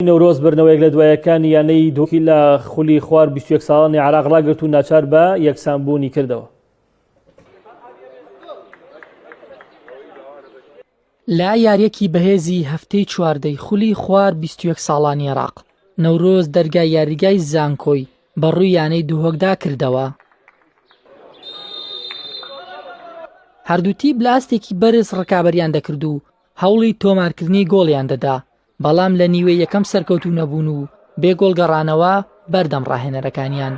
نەورۆز بردنەوەیەک لە دوایەکانی یانەی دۆکی لە خولی خوار 21 ساڵانی عراق ڕاگرت و ناچار بە یەکسانبوونی کردەوە. لە یاریەکی بەهێزی هەفتەی چواردەی خولی خوار 21 ساڵانی عراق، نەورۆز دەرگای یاریگای زانکۆی بە ڕووی یانەی دهۆکدا کردەوە. هەردوو تیپ لە ئاستێکی بەرز ڕکابەریان دەکرد و هەوڵی تۆمارکردنی گۆڵیان دەدا، بەڵام لە نیوەی یەکەم سەرکەوتوو نەبوون و بێ گۆڵ گەڕانەوە بەردەم ڕاهێنەرەکانیان.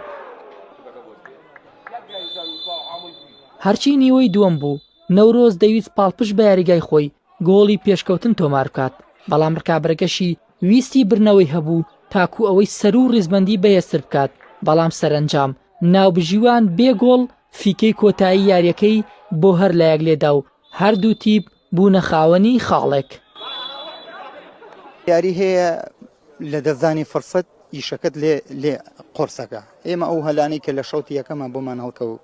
هەرچی نیوەی دووەم بوو، نەورۆز دەویست پاڵپشت بە یاریگای خۆی گۆڵی پێشکەوتن تۆمار بکات، بەڵام ڕکابەرەکەشی ویستی بردنەوەی هەبوو تاکوو ئەوەی سەروو ڕیزبەندی بەهێزتر بکات، بەڵام سەرەنجام ناوبژیوان بێ گۆڵ فیکەی کۆتایی یارییەکەی بۆ هەر لایەک لێدا و هەردوو تیپ بوونە خاوەنی خاڵێک. یاری هەیە لە دەستدانی فرسەت ئیشەکەت لێ لێ قۆرسەکە ئێمە ئەو هەلانەی کە لە شەوتی یەکەمان بۆمان هەڵکەوت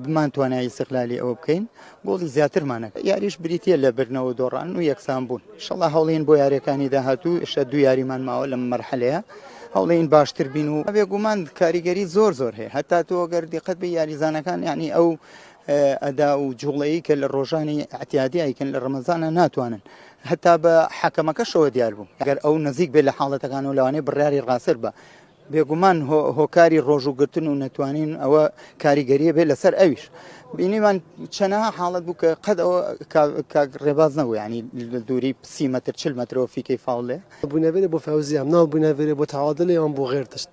بمان توانای سەقلالی ئەوە بکەین گۆڵی زیاترمانەکە یاریش بریتە لە برنەوە دۆڕان و یەکسان بوون شڵە هەڵین بۆ یاریەکانی داهاتوو شە دو یاریمان ماوە لە مەرحەلەیە هەڵین باشتر بین و بێگومان کاریگەری زۆر زۆر هەیە هەتا تۆ گەر دیقەت بە یاریزانەکان یعنی ئەو ئەدا و جوڵەیی کە لە ڕۆژانی ئەعتیادی ئەیکەن لە ڕەمەزانە ناتوانن هەتا بە حەکەمەکەشەوە دیار بوو ئەگەر ئەو نزیک بێت لە حاڵەتەکان و لەوانەیە بڕیاری ڕاستر بە بێگومان هۆکاری ڕۆژوگرتن و نەتوانین ئەوە کاریگەریە بێت لەسەر ئەویش بینیمان چەنەها حاڵت بوو کە قەت ئەوە ڕێباز نەبوو ینی دووری سی متر چل مترەوە فیکەی فاڵێ بوونەێت بۆ فەوزیام ناو بوونەێت بۆ تاوادە لێوان بۆ غێرتشت.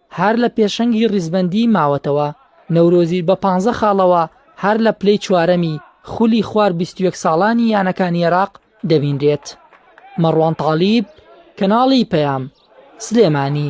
هەر لە پێشەنگی ڕیزبەندیی ماوەتەوە، نەورۆزی بە پانزە خاڵەوە هەر لە پلەی چوارەمی خولی خوار بیست و یەک ساڵانی یانەکانی عێراق دەبینرێت. مەڕوان تاڵیب، کەناڵی پەیام، سلێمانی.